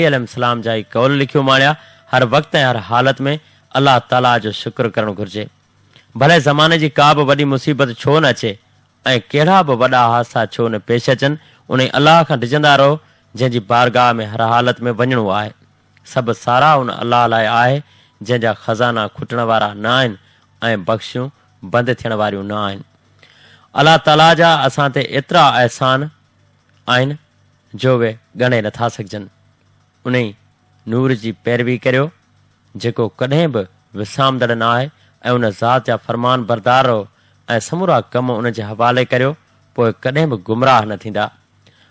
عليه السلام جا ئي قول لکيو ماڻيا، هر وقت ۽ هر حالت ۾ الله تعاليٰ جو شڪر ڪرڻ گهرجي. ڀلي زماني جي ڪا به وڏي مصيبت ڇو نه اچي ۽ ڪهڙا به وڏا حادثا ڇو نه پيش اچن، انهي الله کان ڊڄندا رهو جنهن جي بارگاهه ۾ هر حالت ۾ وڃڻو آهي. سڀ ساراهه ان الله لاء آهي جنهن جا خزانا کٽڻ وارا نه آهن ۽ بخشيون بند ٿيڻ واريون نه آهن. الله تعاليٰ جا اسان تي ايترا احسان آهن. جو اهي ڳڻي نٿا سگهجن، انهي نور جي پيروي ڪريو، جيڪو ڪڏهن به وسامندڙ نه آهي ۽ ان ذات جا فرمان بردار رهو ۽ سمورا ڪم ان جي حوالي ڪريو، پوء ڪڏهن به گمراهه نه ٿيندا.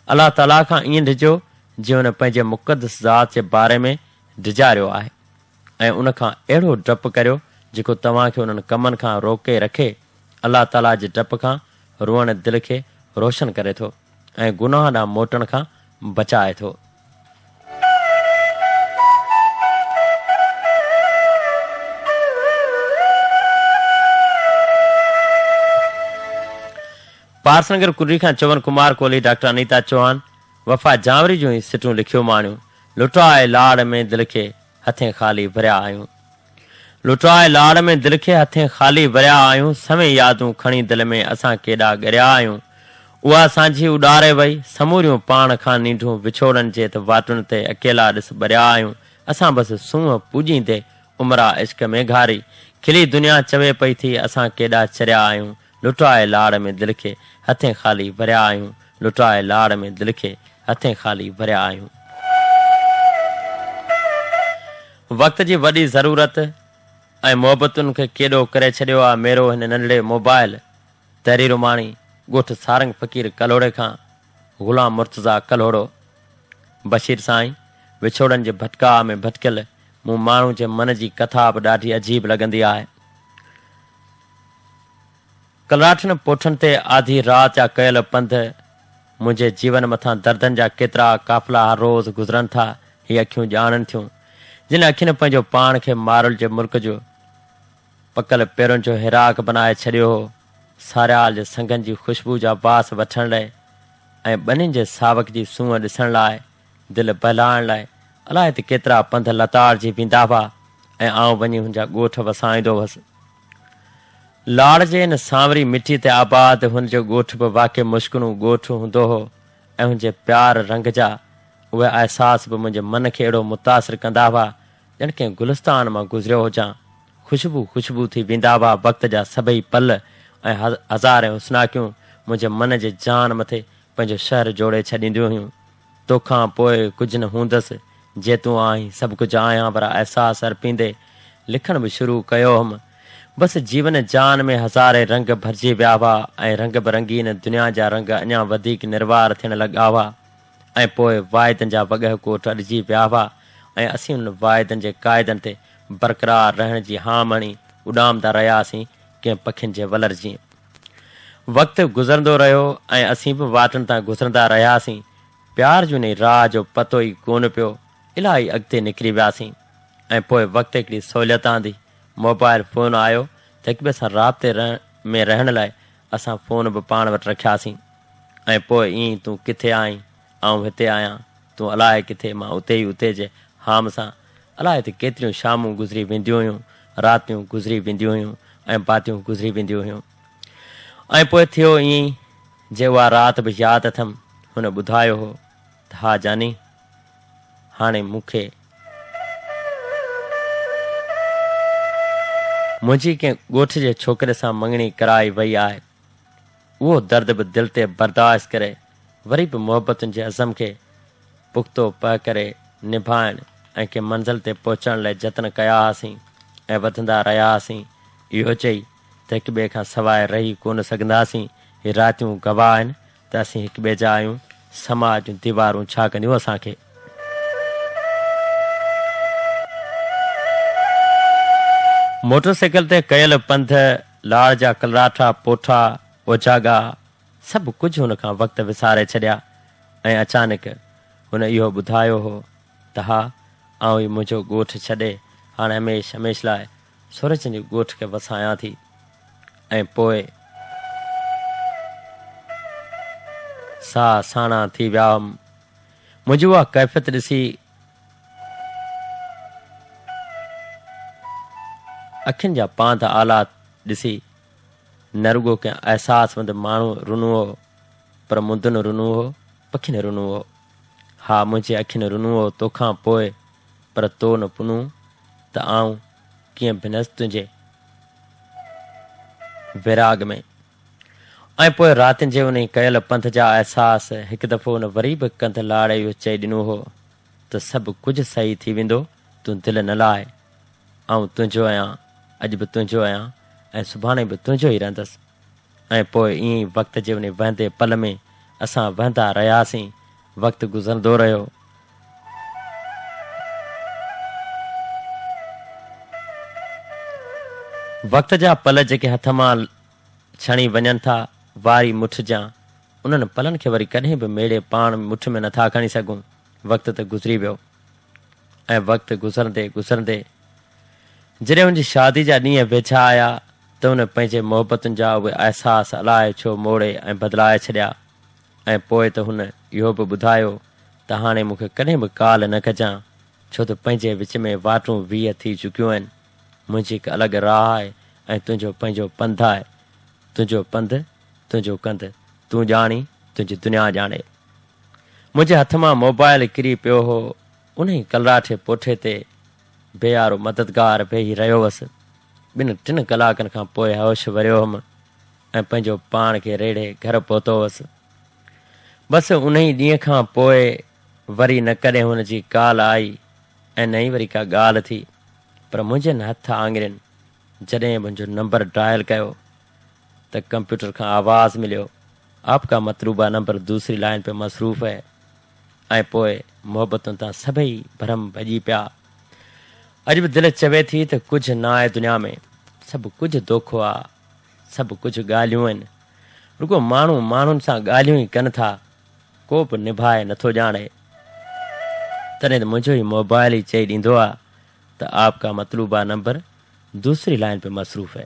الله تعاليٰ کان ائين ڊڄو، جيئن ان پنهنجي مقدس ذات جي باري ۾ ڊيڄاريو آهي ۽ ان کان اهڙو ڊپ ڪريو، جيڪو توهان کي انهن ڪمن کان روڪي رکي، الله تعاليٰ جي ڊپ کان روئڻ دل کي روشن ڪري ٿو. ۽ گناهه ڏانهن موٽڻ کان بچائي ٿو. پارسنگر ڪنري کان چون ڪمار ڪولهي ڊاڪٽر انيتا چوهان وفا جانوري جون هي سٽون لکيو ماڻيون لٽاء لاڙ ۾ دل کي. هٿين خالي ڀريا آهيون لٽرائي لاڙ ۾ دل کي هٿين خالي ڀريا آهيون سوين يادون کڻي دل ۾ اسان ڪيڏا ڳريا آهيون اها سانجهي اڏاري وئي سموريون پاڻ کان نينڍون وڇوڙن جي ته واٽن تي اڪيلا ڏس ٻريا آهيون اسان بس سونهن پوڄيندي عمرا عشق ۾ گهاري کلي دنيا چوي پئي ٿي اسان ڪيڏا چريا آهيون لٽاء لاڙ ۾ دل کي هٿين خالي ڀريا آهيون لٽاء لاڙ ۾ دل کي هٿين خالي ڀريا آهيون. وقت جي وڏي ضرورت ۽ محبتن کي ڪيڏو ڪري ڇڏيو آ ميرو هن ننڍڙي موبائل تحرير ماڻي ڳوٺ سارنگ فقير ڪلهوڙي کان غلام مرتضيٰ ڪلهوڙو بشير سائين وڇوڙن جي ڀٽڪاء ۾ ڀٽڪيل مون ماڻهو جي من جي ڪٿا به ڏاڍي عجيب لڳندي آهي. ڪلراٺن پوٺن تي آڌي رات جا ڪيل پنڌ، منهنجي جيون مٿان دردن جا ڪيترا قافلا هر روز گذرن ٿا، هي اکيون ڄاڻن ٿيون، جن اکين پنهنجو پاڻ کي مارل جي مرڪ جو پڪل پيرن جو هيراڪ بنائي ڇڏيو هو، ساريال جي سنگن جي خوشبو جا واس وٺڻ لئي ۽ ٻنين جي ساوڪ جي سونهن ڏسڻ لاء. دل بهلائڻ لاء الائي ته ڪيترا پنڌ لتاڙجي ويندا هئا ۽ آئون وڃي هن جا ڳوٺ وسائيندو هوس. لاڙ جي ان سانوري مٽيء تي آباد هن جو ڳوٺ به واقعي مشڪنون ڳوٺ هوندو هو ۽ هن جي پيار رنگ جا اهي احساس به منهنجي من کي اهڙو متاثر ڪندا هئا ڄڻ ڪنهن گلستان مان گذريو هجان. خوشبو خوشبو ٿي ويندا هئا وقت جا سڀئي پل ۽ هزارين حسناڪيون منهنجي من جي جان مٿي پنهنجو شهر جوڙي ڇڏينديون هيون. توکان پوء ڪجهه نه هوندس، جي تون آهين، سڀ ڪجهه آهيان وارا احساس ارپيندي لکڻ به شروع ڪيو هئم. بس جيون جان ۾ هزارين رنگ ڀرجي ويا هئا ۽ رنگ به رنگين دنيا جا رنگ اڃا وڌيڪ نروار ٿيڻ لڳا هئا ۽ پوء واعدن جا وڳهه ڪوٽ اڏجي ويا هئا ۽ اسين انهن واعدن جي قاعدن تي برقرار رهڻ جي هام هڻي اڏامندا رهياسين ڪنهن پکين جي ولر جيئن. وقت گذرندو رهيو ۽ اسين به واٽن تان گذرندا رهياسين. پيار جون انهي راهه جو پتو ئي ڪونه پيو. الاهي اڳتي نڪري وياسين ۽ پوء وقت هڪڙي سهوليت آندي. موبائل فون آيو ته هڪٻئي سان رابطي ۾ رهڻ لاء اسان فون به پاڻ وٽ رکياسين ۽ پوء ائين تون ڪٿي آهين، آئون هتي آهيان، تون الاهي ڪٿي، مان اتي ئي اتي جي هام سان الاء ته ڪيتريون شامون گذري وينديون هيون، راتيون گذري وينديون هيون ۽ باتيون گذري وينديون هيون ۽ پوء ٿيو ائين جي اها رات به ياد اٿم، هن ٻڌايو هو ته ها جاني، هاڻي مون کي. منهنجي ڪنهن ڳوٺ جي ڇوڪري سان مڱڻي ڪرائي وئي آهي. اهو درد به دل تي برداشت ڪري. وري به محبتن جي عزم کي پختو پء ڪري نڀائڻ ۽ ڪنهن منزل تي پهچڻ لاء جتن ڪيا هئاسين ۽ وڌندا رهيا هئاسين اهو چئي ته هڪ ٻئي کان سواء رهي ڪونه سگهنداسين هي راتيون گواهه آهن ته اسين هڪ ٻئي جا آهيون سماء جون ديوارون ڇا ڪنديون اسان کي. موٽر سائيڪل تي ڪيل پنڌ، لاڙ جا ڪلراٺا پوٺا، اوجاڳا، سڀ ڪجهه هن کان وقت وساري ڇڏيا ۽ اچانڪ هن اهو ٻڌايو هو ته ها آئون ئي منهنجو ڳوٺ ڇڏي هاڻ هميشھ هميشھ لاء سورجن جي ڳوٺ کي وسايان ٿي ۽ پوء ساهه ساڻا ٿي ويا هئم منهنجي اها ڪيفيت ڏسي اکين جا پانڌ آلات ڏسي نه رڳو ڪنهن احساسمند ماڻهوء رنو هو، پر مندن رنو هو، پکين رنو هو. ها، منهنجي اکين رنو هو توکان پوء، پر تو نه پنو ته آئون ڪيئن ڀنس تنهنجي ويراڳ ۾. ۽ پوء راتين جي انهي ڪيل پنڌ جا احساس هڪ دفعو ان وري به ڪنڌ لاڙي اهو چئي ڏنو هو ته سڀ ڪجهه صحيح ٿي ويندو، تون دل نه لاهه. آئون تنهنجو آهيان، اڄ به تنهنجو آهيان ۽ سڀاڻي به تنهنجو ئي رهندس. ۽ پوء ائين ئي وقت جي انهي وهندي پل ۾ اسان وهندا رهياسين، وقت گذرندو رهيو. وقت جا پل جيڪي هٿ مان ڇڻي وڃن ٿا، واري مٺ جيان، انهن پلن کي وري ڪڏهن به ميڙي پاڻ مٺ ۾ نٿا کڻي سگهون. وقت ته گذري ويو. ۽ وقت گذرندي گذرندي جڏهن هن جي شادي جا ڏينهن ويجها آيا ته هن پنهنجي محبتن جا اهي احساس الائي ڇو موڙي ۽ بدلائي ڇڏيا ۽ پوء ته هن اهو به ٻڌايو ته هاڻي مون کي ڪڏهن به ڪال نه ڪجان ڇو ته پنهنجي وچ ۾ واٽون ويهه ٿي چڪيون آهن منهنجي هڪ الڳ راهه آهي ۽ تنهنجو پنهنجو پنڌ آهي تنهنجو پنڌ تنهنجو ڪنڌ تون ڄاڻين تنهنجي دنيا ڄاڻي. منهنجي هٿ مان موبائل ڪري پيو هو، انهي ڪلراٺي پوٺي تي بي آرو مددگار ويهي رهيو هوس. ٻن ٽن ڪلاڪن کان پوء هوش وريو هوم ۽ پنهنجو پاڻ کي ريڙهي گهر پهتو هوس. بس انهي ڏينهن کان پوء وري نه ڪڏهن هن جي ڪال آئي ۽ نه ئي وري ڪا ڳالهه ٿي، پر منهنجين هٿ آڱرين جڏهن منهنجو نمبر ڊائل ڪيو ته ڪمپيوٽر کان آواز مليو، آپ ڪا مطلوبه نمبر دوسري لائن پي مصروف هي ۽ پوء محبتن تان سڀئي ڀرم ڀڄي پيا. اڄ به دل چوي ٿي ته ڪجهه ناهي دنيا ۾، سڀ ڪجهه دوکو آ، سڀ ڪجهه ڳالهيون هن، رڳو ماڻهو ماڻهن سان ڳالهيون ئي ڪن ٿا، ڪو به نڀائي نٿو ڄاڻي. تڏهن ته منهنجو هي موبائل ئي چئي ڏيندو آ ته آپ ڪا مطلوبه نمبر دوسري لائن پي مصروف هي.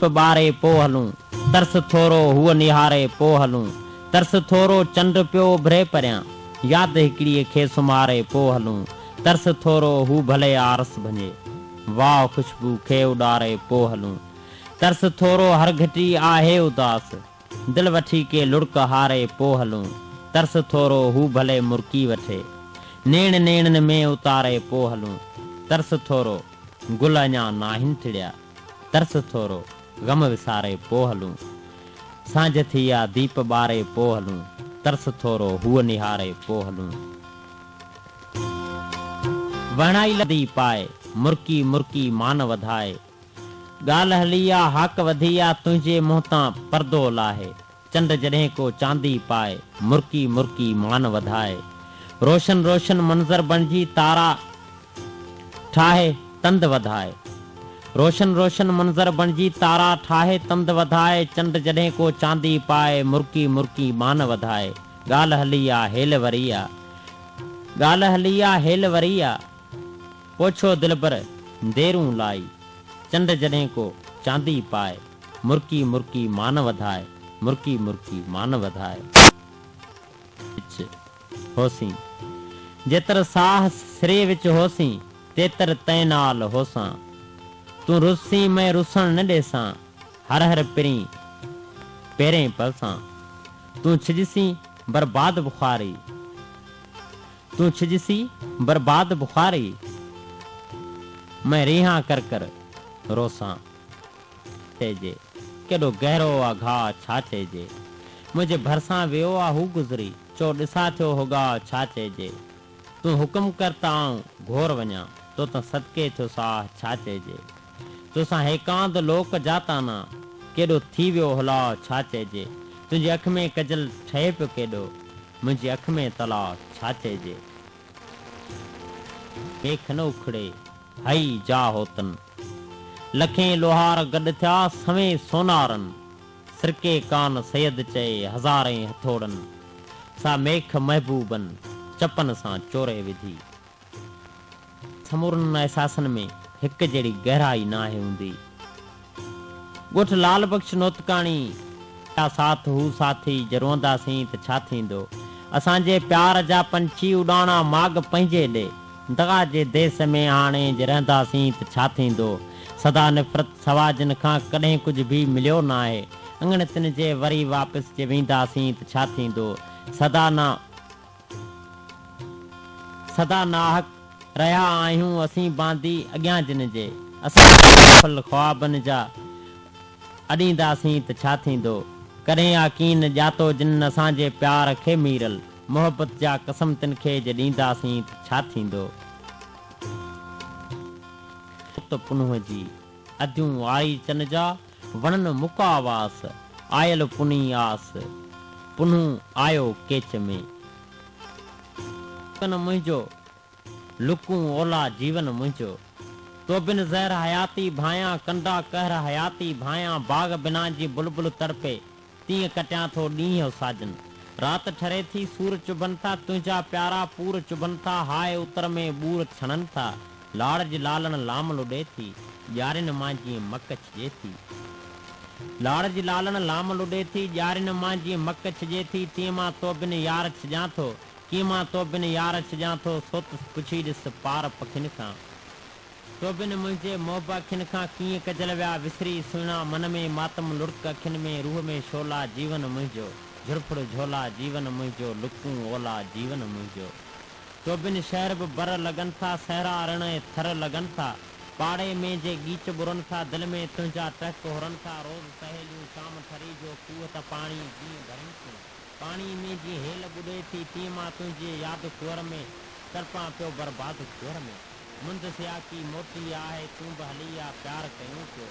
چپ ٻاري پو هلون، ترس ٿورو هوء نهاري پو هلون، ترس ٿورو چنڊ پيو اڀري پريان، ياد هڪڙيء کي سمهاري پو هلون، ترس ٿورو هو ڀلي آرس ڀڃي، واهه خوشبو کي اڏاري پو هلون، ترس ٿورو هر گهٽي آهي اداس، دل وٺي ڪي لڙڪ هاري پو هلون، ترس ٿورو هو ڀلي مرڪي وٺي. نيڻ نيڻن ۾ اتاري پو هلون، ترس ٿورو گل اڃا ناهن ٽڙيا. ترس ٿورو غم وساري پو هلون، سانجهه ٿي آ ديپ ٻاري پو هلون، ترس ٿورو هوء نهاري پو هلون. وهڻائي لڌي پائي، مرڪي مرڪي مان وڌائي. ڳالهه هلي آ هاڪ وڌي آ تنهنجي منهن تان پردو لاهي چنڊ جڏهن ڪو چاندي پائي مرڪي مرڪي مان وڌائي روشن روشن منظر بڻجي تارا ٺاهي تند وڌائي روشن روشن منظر بڻجي تارا ٺاهي تند وڌائي چنڊ جڏهن ڪو چاندي پائي مرڪي مرڪي مان وڌائي ڳالهه هلي آ هيل وري آ ڳالهه هلي آ هيل وري آ. پوڇو دلبر ديرون لائي، چنڊ جڏهن ڪو چاندي پائي، مرڪي مرڪي مان وڌائي، مرڪي مرڪي مان وڌائي. وچ هوسين، جيتر ساهه سري وچ هوسين، تيتر تين نال هوسان. تون رسين مئن رسڻ نه ڏيسان، هر هر پرين پيرين پلسان. تون ڇڄسين برباد بخاري. تون ڇڄسين برباد بخاري، مئن رينهان ڪر ڪر روسان. چئجي ڪيڏو گهرو آ گهاء ڇا چئجي، منهنجي ڀرسان ويو آ هو گذري، چؤ ڏسان ٿيو هوڳاء ڇا چئجي، تون حڪم ڪر ته آئون گهور وڃان، توتان صدقي ٿيو ساهه ڇا چئجي، توسان هيڪاند لوڪ جا تانا، ڪيڏو ٿي ويو هلاء ڇا چئجي، تنهنجي اک ۾ ڪجل ٺهي پيو ڪيڏو، منهنجي اک ۾ تلا ڇا چئجي. پيک نه اکڙي هئي جا هوتن. لکين لوهار گڏ ٿيا سوين سونارن. سرڪي ڪان سيد چئي هزارين هٿوڙن. سا ميک محبوبن چپن سان چوري وڌي. سمورن احساسن ۾ هڪ جهڙي گهرائي ناهي هوندي. ڳوٺ لعل بخش نوتڪاڻي جا ساٿ هو ساٿي جي روئنداسين ته ڇا ٿيندو. اسان جي پيار جا پنڇي اڏاڻا ماڳ پنهنجي ڏي. دغا جي ديس ۾ آڻي جي رهنداسين ته ڇا ٿيندو. سدا نفرت سوا جن کان ڪڏهن ڪجهه به مليو ناهي. اڱڻ تن جي وري واپس جي وينداسين ته ڇا ٿيندو. سدا نه. سدا ناحق رهيا آهيون اسين باندي اڳيان جن جي اسان کي بافل خوابن جا اڏينداسين ته ڇا ٿيندو ڪڏهن آ ڪين ڄاتو جن اسان جي پيار کي ميرل محبت جا قسم تن کي جي ڏينداسين ته ڇا ٿيندو ته پنهون جي اديون آئي چن جا. وڻن مڪا واس، آيل پني آس، پنهون آيو ڪيچ ۾. لڪن منهنجو، لڪون اولا جيون منهنجو. تو بن زهر حياتي ڀانئيان، ڪنڊا قهر حياتي ڀانئيان، باغ بنان جي بلبل تڙپي، تيئن ڪٽيان ٿو ڏينهن او ساجن. رات ٺري ٿي سور چڀن ٿا، تنهنجا پيارا پور چڀن ٿا، هاء اتر ۾ ٻور ڇڻن ٿا، لاڙ جي لالڻ لام لڏي ٿي، ڄارين مان جيئن مڪ ڇڄي ٿي. لاڙ جي لالڻ لام لڏي ٿي، ڄارين مان جيئن مڪ ڇڄي ٿي، تيئن مان توبن يار ڇڄان ٿو، ڪيئن مان توبن يار ڇڄان ٿو، سوتس پڇي ڏس پار پکين کان. سوڀن منهنجي محب اکين کان ڪيئن ڪجل ويا وسري سهڻا من ۾ ماتم لڙڪ اکين ۾ روح ۾ شعلا جيون منهنجو جھرڦڙ جھولا جيون منهنجو لڪون اولا جيون منهنجو سوڀن شهر به بر لڳن ٿا صحرا رڻ ۽ ٿر لڳن ٿا پاڙي ۾ جي ڳيچ ٻرن ٿا دل ۾ تنهنجا ٽهڪ هرن ٿا روز سهيليون شام ٺري جو کوهه ته پاڻي جيئن ڀرين ٿيون پاڻي ۾ جيئن هيل ٻڏي ٿي تيئن مان تنهنجي ياد کوهر ۾ تڙپان پيو برباد کوهر ۾. مند سياڪي موٽي آ هي تون به هلي آ پيار ڪيون پيو.